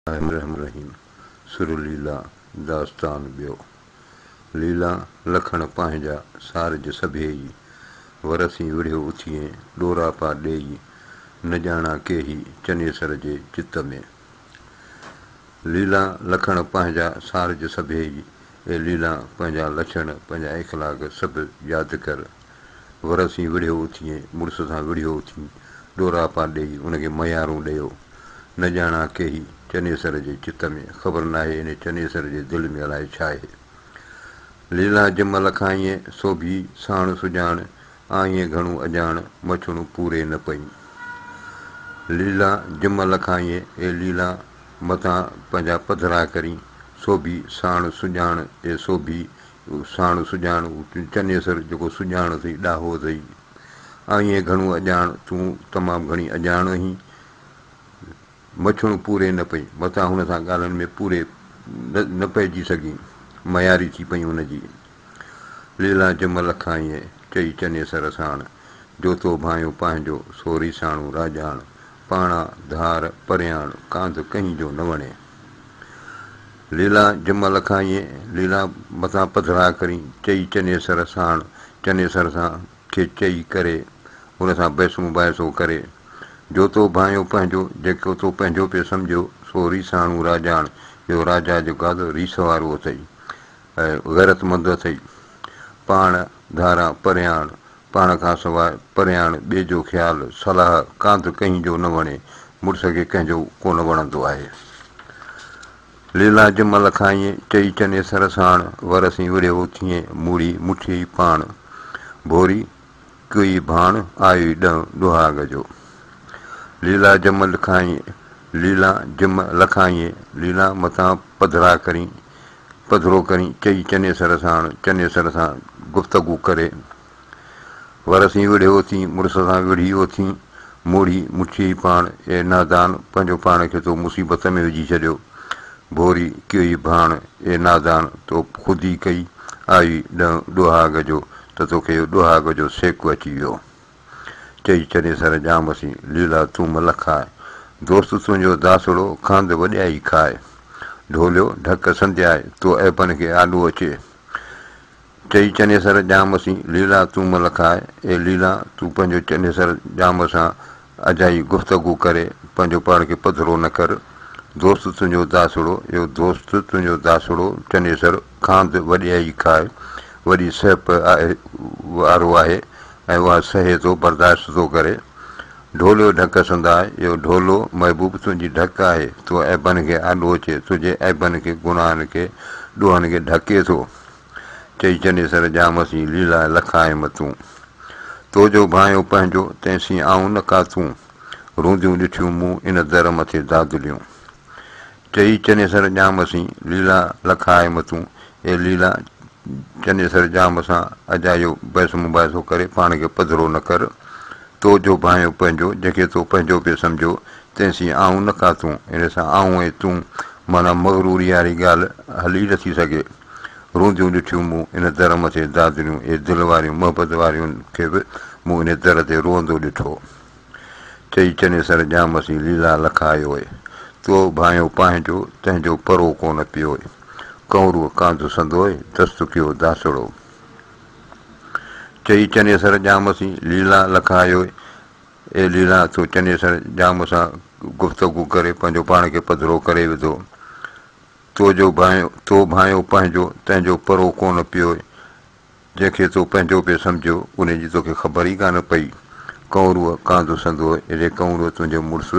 الرحمن الرحيم سر ليلا داستان ٻيو ليلا لکڻ پنهنجا سارج سڀيئي ورسين وڙهيو اٿيئي ڏوراپا ڏيئي نه ڄاڻان ڪيهي چنيسر جي چت ۾. ليلا لکڻ پنهنجا سارج سڀيئي اي ليلا پنهنجا لڇڻ پنهنجا اخلاق سڀ ياد ڪر. ورسين وڙهيو اٿيئي، مڙس سان وڙهيو اٿيئي، ڏوراپا ڏيئي، ان کي ميارون ڏيئو. نه ڄاڻان ڪيهي، چنيسر جي چت ۾، خبر ناهي انهي چنيسر جي دل ۾ الائي ڇا اهي. ليلان جم لکائينء، سوڀي، ساڻ سڄاڻ، آئينء گهڻو اڄاڻ، مڇڻون پوري نه پئين. ليلان جم لکائينء، اي ليلان، متان پنهنجا پڌرا ڪرين، سوڀي، ساڻ سڄاڻ، اي سوڀي، هو ساڻ سڄاڻ، هو تون چنيسر جيڪو سڄاڻ اٿئي، ڏاهو اٿئي. آئينء گهڻو اڄاڻ، تون تمام گهڻي اڄاڻ اهين. مڇڻ پوري نه پئي، متان هن سان ڳالهن ۾ پوري نه پئجي سگهي. مياري ٿي پئي هن جي. ليلان جم لکائينء، چئي چنيسر ساڻ، جو تو ڀانئيو پنهنجو، سو ريساڻو راڄاڻ، پاڻان ڌار پرياڻ، ڪانڌ ڪنهين جو نه وڻي. ليلا جمع لکائينء ليلا مٿان پڌرا ڪرين چئي چنيسر ساڻ چنيسر سان کي چئي ڪري ان سان بحث مباحثو ڪري جو تو ڀانئيو پنهنجو جيڪو تو پنهنجو پئي سمجهيو سو ريساڻو راڄاڻ جو راجا جو گادو ريس وارو اٿئي غيرتمند اٿئي پاڻ ڌاران پرياڻ پاڻ کان سواء پريان ٻئي جو خيال، صلاح، ڪانڌ ڪنهن جو نه وڻي. مڙس کي ڪنهن جو ڪونه وڻندو آهي. ليلا جمل کان ائين چئي چني سر ساڻ ور سين وڙهيو ٿيئن موڙي مٺيئي پاڻ. ڀوري، ڪوئي ڀاڻ آيو ئي ڏهن ڏهاڳ جو. ليلا جمل کان ائين ليلا جم ل کان ائين ليلا متان پڌرا ڪرين. پڌرو ڪرين چئي چنيسر ساڻ چنيسر سان گفتگو ڪري ور سين وڙهيو اٿين مڙس سان وڙهي اٿين موڙهي مٺيئي پاڻ اي نادان پنهنجو پاڻ کي تو مصيبت ۾ وجهي ڇڏيو ڀوري ڪيئي ڀاڻ اي نادان تو خود ئي ڪئي آئي ڏنء ڏوهاڳ جو ته توکي ڏوهاڳ جو سيڪ اچي ويو. چئي چري سر ڄام سين، ليلا تون ملڪ آء. دوست تنهنجو داسڙو، کاند وڏيائي کاء. ڍوليو، ڍڪ سندياء، تو عيبن کي آڏو اچي. چئي چنيسر ڄام سين، ليلا تون ملڪ آء. اي ليلا! تون پنهنجو چنيسر ڄام سان اجائي گفتگو ڪري، پنهنجو پاڻ کي پڌرو نه ڪر. دوست تنهنجو داسڙو، اهو دوست تنهنجو داسڙو، چنيسر، کاند وڏيائي کاء، وڏي سهپ وارو آهي، ۽ اها سهي ٿو برداشت ٿو ڪري. ڍوليو ڍڪ سنداء، يو ڍولو، محبوب تنهنجي ڍڪ آهي، تو عيبن کي آڏو اچي، تنهنجي عيبن کي، گناهن کي، ڏوهن کي ڍڪي ٿو. چئي چنيسر ڄامس جي ليلا لکائيم تون. تو جو ڀانئيو پنهنجو، تنهن سين آئون نه ڪاتون. رونديون ڏٺيون مون، ان در مٿي دادليون. چئي چنيسر ڄام سين، ليلا لک آء متون، اي ليلا! چنيسر ڄام سان اجايو بحث مباحثو ڪري پاڻ کي پڌرو نه ڪر. تو جو ڀانئيو پنهنجو، جنهن کي تو پنهنجو پئي سمجهو، تنهن سين آئون نه ڪا تون، ان سان آئون ۽ تون معنيٰ مغروريء واري ڳالهه هل ئي نٿي سگهي. رونديون ڏٺيون مون ان در مٿي دادريون، اي دل واريون محبت واريون کي به مون ان در تي روئندو ڏٺو. چئي چني سر ڄام سين ليلا لکايوء، تو ڀانئيو پانهنجو، تنهن جو پرو ڪونه پيوء، ڪنورو ڪانڌ سندوء، دست ڪيو داسڙو. چئي چني سر ڄام سين ليلا لکايوء، اي ليلا تو چني سر ڄام سان گفتگو ڪري پنهنجو پاڻ کي پڌرو ڪري وڌو. تو جو ڀانئيو، تو ڀانئيو پانهنجو، تنهن جو پرو ڪونه پيوء، جنهن کي تو پنهنجو پئي سمجهيو، انهيء جي توکي خبر ئي ڪانه پئي. ڪئونروء ڪانڌو سندو، اڙي ڪئونروء تنهنجو مڙس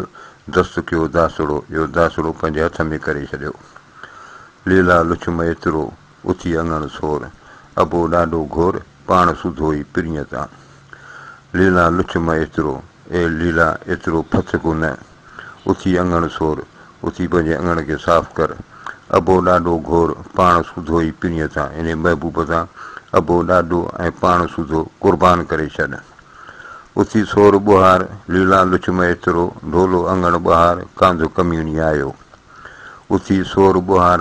دست ڪيو داسڙو، اهو داسڙو پنهنجي هٿ ۾ ڪري ڇڏيو. ليلا لڇم ايترو، اٿي اڱڻ سور، ابو ڏاڍو گهور، پاڻ سڌو ئي پرينء تان. ليلا لڇ مئي ايترو، اي ليلا ايترو ڦٿ ڪو نه، اٿي اڱڻ سور، اٿي پنهنجي اڱڻ کي صاف ڪر، اڀو ڏاڏو گهور، پاڻ سوڌو ئي پرينء تان انهي محبوب تان اڀو ڏاڏو ۽ پاڻ سوڌو قربان ڪري ڇڏ. اٿي سور ٻهار، ليلا لڇ مئي ايترو، ڍولو اڱڻ ٻهار، ڪانڌ ڪميڻي آيو. اٿي سور ٻهار،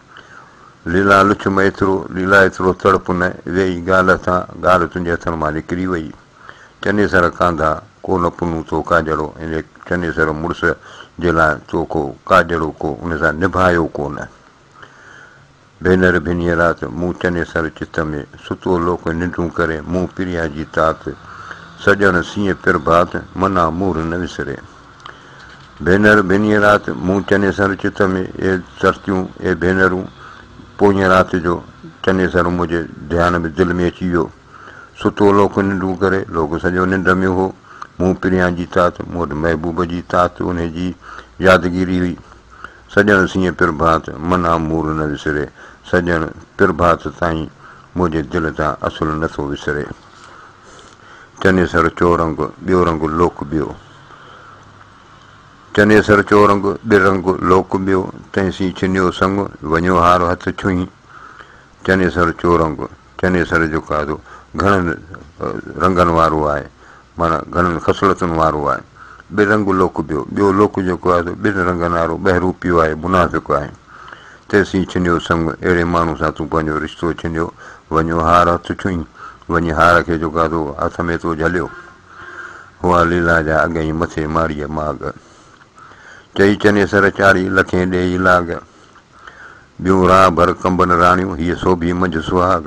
ليلا لڇ م ايترو، ليلا ايترو تڙپ نه، ويئي ڳالهه تان، ڳالهه تنهنجي هٿن مان نڪري ويئي. چنيسر ڪانڌا، ڪو نه پنهون تو ڪاڄڙو، ان چنيسر مڙس جي لاء تو ڪو ڪاڄڙو ڪو ان سان نڀايو ڪو نه. ڀينر ڀينهيء رات، مون چنيسر چت ۾ ستو لوڪ ننڊون ڪري، مون پريا جي تات، سڄڻ سيئي پرڀات، منا مور نه وسري. ڀينر، ڀينيء رات مون چنيسر چت ۾ اي سرتيون، اي ڀينرون، پوئينء رات جو چنيسر منهنجي ڌيان ۾ دل ۾ اچي ويو. ستو لوڪ ننڊون ڪري، لوڪ سڄو ننڊ ۾ هو. مون پريان جي تات، مون وٽ محبوب جي تات، انهيء جي يادگيري هئي. سڄڻ سينء پرڀات، من آ مور نه وسري، سڄڻ پرڀات تائين منهنجي دل تان اصل نه ٿو وسري. چنيسر چورنگ، ٻيو رنگ لوڪ ٻيو. چنيسر چورنگ ڏرنگ لوڪ ٻيو، تنهن سين ڇنيو سڱ، وڃيو هار هٿ ڇهين. چنيسر چورنگ، چنيسر جو قاعدو گهڻن رنگن وارو آهي، معنيٰ گهڻن خصلتن وارو آهي. ڏرنگ لوڪ ٻيو، ٻيو لوڪ جو قاعدو ٻن رنگن وارو ٻهروپيو آهي، منافق آهي. تنهن سين ڇنيو سڱ، اهڙي ماڻهو سان تون پنهنجو رشتو ڇنيو، وڃيو هار هٿ ڇهين، وڃي هار کي جو قاعدو هٿ ۾ تو جهليو. هئا ليلا جا اڳئين مٿي ماڙيء ماڳ. چئي چنيسر چاڙهي لکين ڏيئي لاڳ. ٻيون راهه ڀر ڪنبن راڻيون هيء سوڀي منجهه سهاڳ.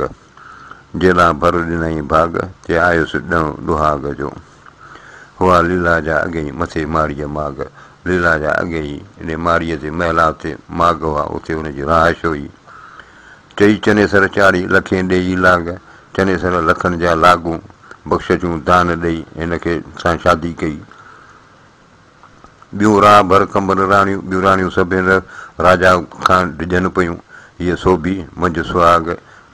جيلا ڀر ڏنائين ڀاڳ تي آيس ڏڻ ڏهاڳ جو. هئا ليلا جا اڳئين مٿي ماڙيء ماڳ. ليلا جا اڳئين ان ماڙيء تي محلات تي ماڳ هئا اتي هن جي رهائش هئي. چئي چنيسر چاڙهي لکين ڏيئي لاڳ، چنيسر لکن جا لاڳون بخش جون دان ڏئي هن کي سان شادي ڪئي. ٻيون راء ڀر ڪنڀر راڻيون، ٻيون راڻيون سڀين راجا کان ڊڄن پيون، هيء سوڀي منجهه سهاڳ،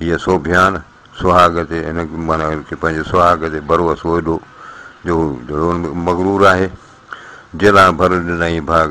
هيء سوڀيان سهاڳ تي هن معنيٰ هن کي پنهنجي سهاڳ تي ڀروسو ايڏو جو هو مغرور آهي. جيلان ڀر ڏنائين ڀاڳ،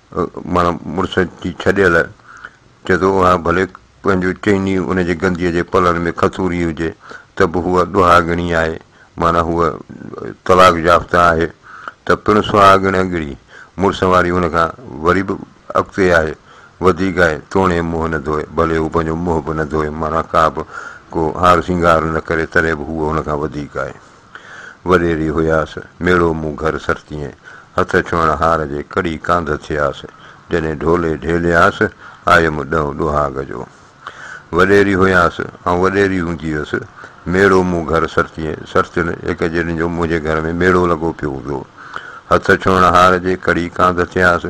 ماڻا مڙس جي ڇڏيل چئي ٿو اها ڀلي پنهنجو چئني ان جي گنديء جي پلن ۾ کٿوري هجي ته به هوء ڏهاڳڻي آهي مانا هوء طلاق يافته آهي ته پڻ سهاڳڻگڙي مڙس واري ان کان وري به اڳتي آهي وڌيڪ آهي توڻي منهن نه ڌوئي ڀلي هو پنهنجو منهن به نه ڌوئي مانا ڪا به ڪو هار سينگار نه ڪري تڏهن به هوء ان کان وڌيڪ آهي. وريري هياس، ميڙو مون گهر سرتيين، هٿ ڇهڻ هار جي ڪڙي ڪانڌ ٿياس، جڏهن ڍولي ڍيلياس، آيم ڏئون ڏوهاڳ جو. وريري هياس، آئون وريري هوندي هيس، ميڙو مون گهر سرتيين، سرتين هڪ جنھن جو منھنجي گهر ۾ ميڙو لڳو پيو هوندو هو. هٿ ڇهڻ هار جي ڪڙي ڪانڌ ٿياس،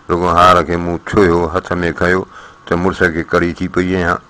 رڳو هار کي مون ڇهيو، هٿ ۾ کنيو ته مڙس کي ڪڙي ٿي پئي ڏيان.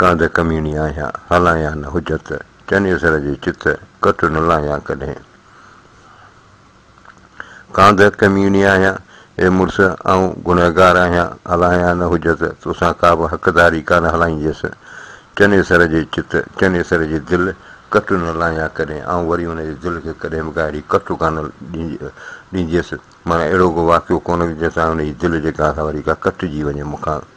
ڪانڌ ڪميڻي آهيان، هلايان نه حجت، چنيسر جي چت، ڪٽ نه لاهيان ڪڏهن. ڪانڌ ڪميڻي آهيان، اي مڙس آئون گنهگار آهيان، هلايان نه حجت، توسان ڪابه حقداري ڪانه هلائينديس. چنيسر جي چت، چنيسر جي دل، ڪٽ نه لاهيان ڪڏهن، آئون وري ان جي دل کي ڪڏهن به ڳاڙهي ڪٽ ڪانه ڏينديس، معنيٰ اهڙو ڪو واقعو ڪونه جنهن سان ان جي دل جيڪا آسان وري ڪا ڪٽجي وڃي مون کان.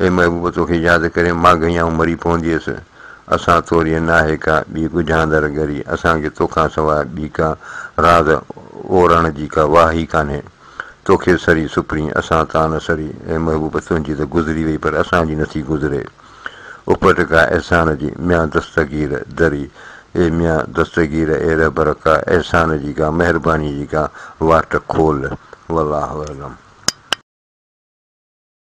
اي محبوب تو کي ياد ڪري مان گهيائون مري پونديس اسان تورين ناهي ڪا ٻي ڳجهاندڙ ڳري اسان کي تو کان سواء ٻي ڪا راز اورڻ جي ڪا واهه ئي ڪانهي تو کي سري سپرين اسان تان نه سري اي محبوب تنهنجي ته گذري وئي پر اسان جي نٿي گذري اپٽ ڪا احسان جي ميان دستگير دري اي ميان دستگير اي رهبر ڪا احسان جي ڪا مهرباني جي ڪا واٽ کول والله اعلم.